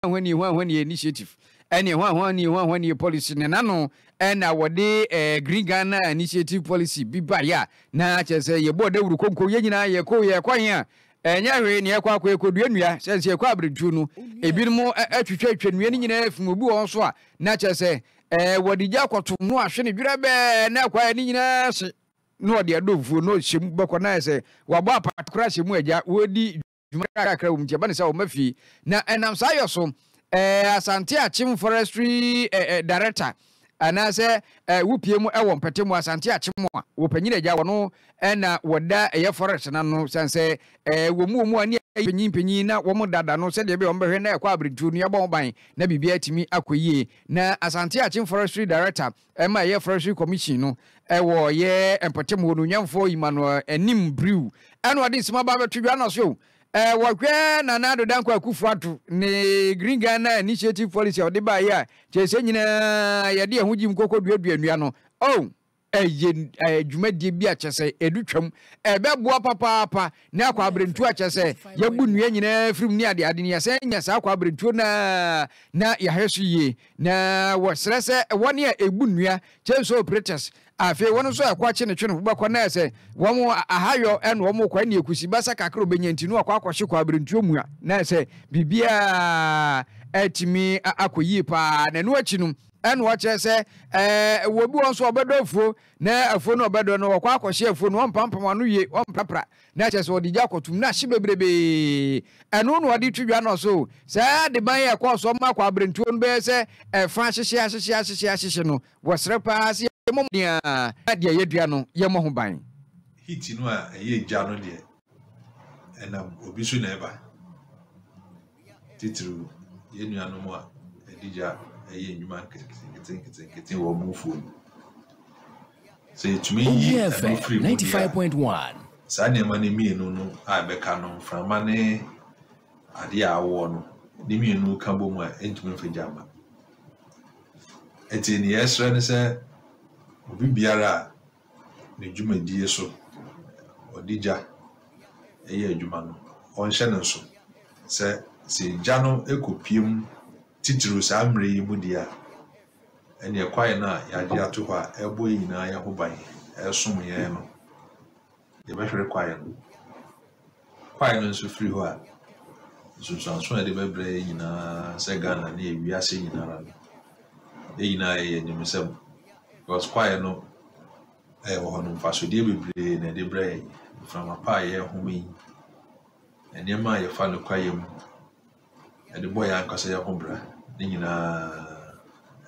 hwanhwani hwanhwani initiative ɛne hwanhwani hwanhwani policy ne n'ano ɛna wɔde ɛɛ green ghana initiative policy bi baeɛ a na kyerɛ sɛ yɛbɔ dawuro konko yɛn nyinaa yɛkɔ yɛkɔ he a ɛnyɛ hwee ne yɛkɔ akɔ yɛkɔ dua nnua sɛ sɛ yɛkɔ abirentuo no ebinom atwitwa atwa nnua no nyinaa afim obi wɔ hɔ nso a na kyerɛ sɛ ɛɛ wɔde gya akɔto no ahwe ne dwerɛ bɛɛ na akɔ ayɛ ne nyinaa hye na ɔde adɔmfuo na ɔhyɛ mu bɛkɔ na ayɛ sɛ wabɔ apata koraa hyɛ mu agya wɔdi dwuma kakra wom nti ɛba ne sɛ ɔma fie na ɛnam saa yɔ so eh, Asante Akyem Forestry eh, eh, Director anaasɛ eh, wopie mu ɛwɔ mpɛte mu Asante Akyem a wɔpanyin agya wɔ no ɛna wɔda ɛyɛ forest na no sane sɛ eh, wɔn mu wɔn mu ani ayɛ panyin panyin na wɔn dada no sɛdeɛ ɛbɛyɛ wɔn bɛhwɛ na ɛkɔ abirintuo no yɛabɔ ho ban na biribi atumi akɔ yie na Asante Akyem Forestry Director Ɛma ɛyɛ Forestry Commission no wɔ yɛ mpɔtam hɔ no Onyanfoɔ Emmanuel anim briw ɛna ɔde nsɛm aba abɛto dwa na ɔso wɔhwɛ Nana Addo Dankwa Akufo Addo ne Green Ghana Initiative Policy a ɔde baeɛ a kyerɛ sɛ nyinaa yɛde yɛn ho gyim kɔkɔ duadua nnua no oh ɛyɛ dwumadie bi a kyerɛ sɛ ɛdu twam ɛbɛboa papaapa Ne akwaberentuo a kyerɛ sɛ yɛabu nnua nyinaa afiri mu ne adeade no, yɛsan nya saa akwaberentuo no ara na yɛahwɛ so yie. Na wɔsrɛ sɛ wɔn a ɛbu nnua, chainsaw operators, a afei wɔn nso a ɛkɔ akye ne twe no wobɛkɔ na ayɛ sɛ wɔn ahayɔ na wɔn rekɔ ɛnna ɛkusi basa kakra a ɔbɛnya nti no wakɔ akɔhye kwaberentuo mua na ayɛ sɛ biribiara atumi akɔ yie paa na ɛno akyi no ɛnna wɔkyerɛ sɛ ɛɛ wɔ bi wɔn nso a wɔbɛdɔ afuo Na afuo no ɔbɛdɔ no ɔkɔ akɔhye afuo no ɔmpampam ano wie ɔmprapra na kyerɛ sɛ ɔde gya kɔtom na ahye bebrebee ɛno na ɔde to dwa nɔso saa adeban a ɛkɔɔ so ma kwaberentuo no bɛyɛ sɛ ɛfa ahyehye ahyehye ahyehye ahyehye no wɔsrɛ paa sɛ yɛmmɔ mmɔden ara na deɛ yɛadua no yɛmmɔ ho ban. Heat no a ɛyɛ gya no deɛ. ɛnam obi so na ɛba titiriw yɛn nuanom a ɛde gya ɛyɛ nnwuma nketenkete wɔ wɔn fuo no sɛ yɛtumi yi ɛno firi mu deɛ saa nneɛma no mmienu no a ɛbɛka no mframa ne adeɛ a awoɔ no ne mmienu ka bɔ mu a ɛntumi mfa gya ma ɛti nea ɛsrɛ ne sɛ obi biara a ne dwumadie so ɔde gya yɛ adwuma no, ɔnhyɛ no nso. Sɛ sɛ gya no kɔpue mu titiriw saa mmerɛ yi mu deɛ a, ɛneɛ kwaeɛ no a yɛagye ato hɔ a ɛbɔ yɛn nyinaa yɛn ho ban, ɛsom yɛn no, yɛbɛhwere kwaeɛ no. Kwae no nso firi hɔ a, nsunsuanso a yɛde bɛbrɛ yɛn nyinaa sɛ Ghana ne wiase nyinara no, yɛn nyinaa yɛyɛ animsɛm because kwae no ɛwɔ hɔ no mfasodeɛ bebree na ɛde brɛ yɛn. Mframa pa a yɛhome yi, nneɛma a yɛfa no kwaeɛ mu. Yɛde bɔ yɛn ankasa yɛn ho bra. Ne nyinaa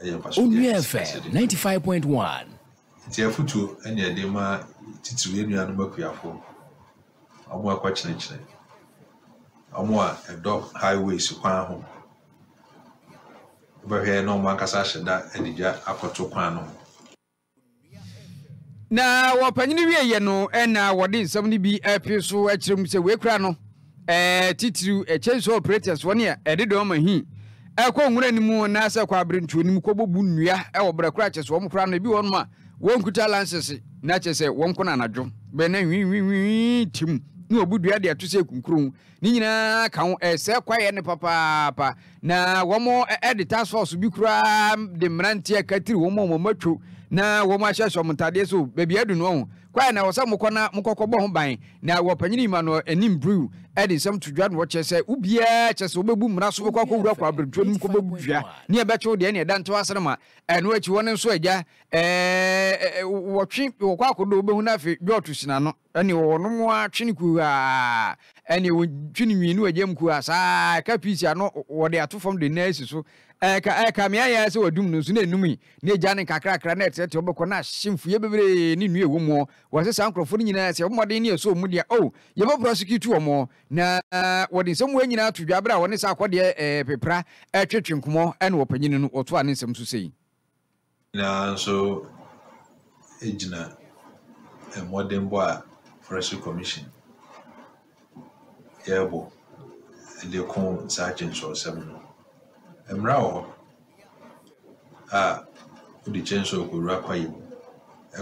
yɛ mfaso de Onuɛ fm akɛse de ninety five point one. Nti afutuo ɛne yɛde ma titiriw yɛn nuanom akuafoɔ, wɔn a ɛkɔ kyenekyene, wɔn a ɛdɔ highways kwan ho, wobɛhwɛ na wɔn ankasa ahyɛ da de gya akɔto kwan no ho. Na wɔ panyin wieɛ no ɛna wɔde nsɛm no bi apie so akyerɛ mu sɛ wei kora no ɛɛ titiriw ɛkyɛn sɛ operators wɔn a ɛde dɔn ma hin ɛkɔ nwura no mu anaasɛ ɛkɔ aberantuo no mu kɔbɔ bu nnua ɛwɔ berɛ kora kyɛ sɛ wɔn kora no ebi wɔn a wɔnkuta lansese na kyɛ sɛ wɔn kɔ no anadwo bɛn na nwinwinwin tim na wɔbu dua de ato sɛ kunkuro Ne nyinaa ka ho, ɛsɛ kwaeɛ no papaapa, na wɔn de task force bi koraa de mmeranteɛ akatiri wɔn a wɔn atwo na wɔn ahyɛhyɛ wɔn ntadeɛ so baabi adu no ho. Kwaeɛ na ɛwɔ sɛ mokɔ na mokɔkɔbɔ ho ban, na wɔ Panyin Emmanuel anim Brew de nsɛm to dwa na wɔkyerɛ sɛ obiara kyɛ sɛ ɔbɛbu mmara so bɛkɔ akɔwura kwaberɛtuo no mu kɔbɛdua ne ɛbɛkyew deɛ ne ɛda ntew ase no ma ɛno akyi wɔn nso agya ɛɛ wɔtwe wɔkɔ akɔdɔ wobɛhu no afei dwɔɔto si n'ano. Ɛne wɔnom ara twe no kuhaa, ɛne wɔtwe no nwii ne wɔgya mu kuhaa saa ara, ɛka piisi ano, wɔde ato fam de ne nan asi so, ɛka, ɛka me ayɛ ara sɛ wɔadum no, nso na ɛnum yi, na ɛgya no nkakrakra, na ɛteɛteɛ hɔ bɛkɔ, na ahye mfuiɛ bebree ne nnua a ɛwɔ mu, wɔse saa nkurɔfoɔ no nyinaa sɛ mmɔden ne ɛsɔ wɔn deɛ, oh, yɛbɛ prosecute wɔn, na wɔde nsɛm wei nyinaa to dwa berɛ a wɔne saa akɔdeɛ, ɛɛ, pepra, ɛretwetwe nkɔmmɔ, ɛne ɔpanyin no, ɔtoaa ne nsɛm so sei. nyinaa nso gyina mmɔdenbɔ a Forestry Commission yɛrebɔ de ko saa kyensuosɛm no. Mmara wɔ hɔ a wode kyɛnsuo kɔwura kwaeɛ mu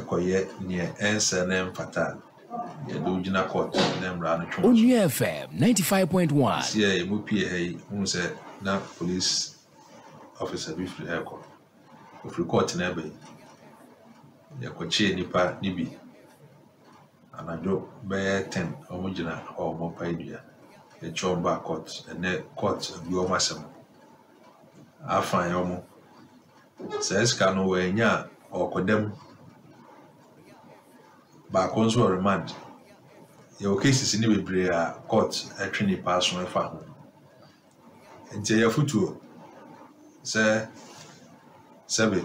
kɔyɛ deɛ ɛnsɛ na ɛmfata a, yɛde wo gyina court na mmara no twe w'aso. Onua FM ninety five point one. Sisi a yɛn mu pii wɔ ha yi hu sɛ na police officer bi firi ha rekɔ. Wɔfiri kɔɔte no aba yi, yɛkɔkyee nnipa no bi anadwo bɛyɛ ten, wɔgyina hɔ a wɔrepae dua. Yɛkye wɔn baa kɔɔt, ɛnnɛ kɔɔt abue wɔn asɛm. Afine wɔn. Saa sika no wɔannya a, ɔrekɔda mu. Baako nso wɔ remand. Yɛwɔ cases no bebree a kɔɔt twe nnipa aso fa ho. Enti ɛyɛ afotuo sɛ sɛbe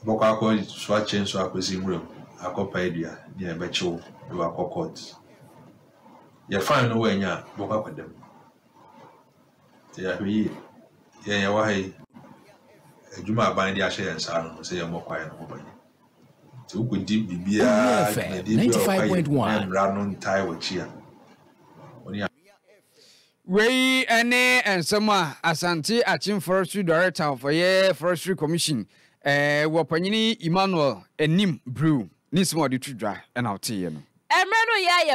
wobɛkɔ akɔsoa chainsaw akɔsi nwura mu akɔpae dua ne a ɛbɛkye wo de wo akɔ court. Yɛ fine no woannya a, wobɛkɔ akɔda mu. Nti yɛahwɛ yie. Yɛn yɛwɔ ha yi, adwuma a aban de ahyɛ yɛn nsa no sɛ yɛmmɔ kwaeɛ no ho ban. Nti wokɔdi biribiara dwumadie bi a ɔkɔyɛ na mmara no ntae w'akyi a, wo ne Wei ne nsɛm a Asante Akyem Forestry Director of ɔyɛ Forestry Commission wɔ Panyini Emmanuel anim bruu ne nsɛm a ɔde to dwa na ɔteeɛ no. Mmerɛ no yɛ ayɛ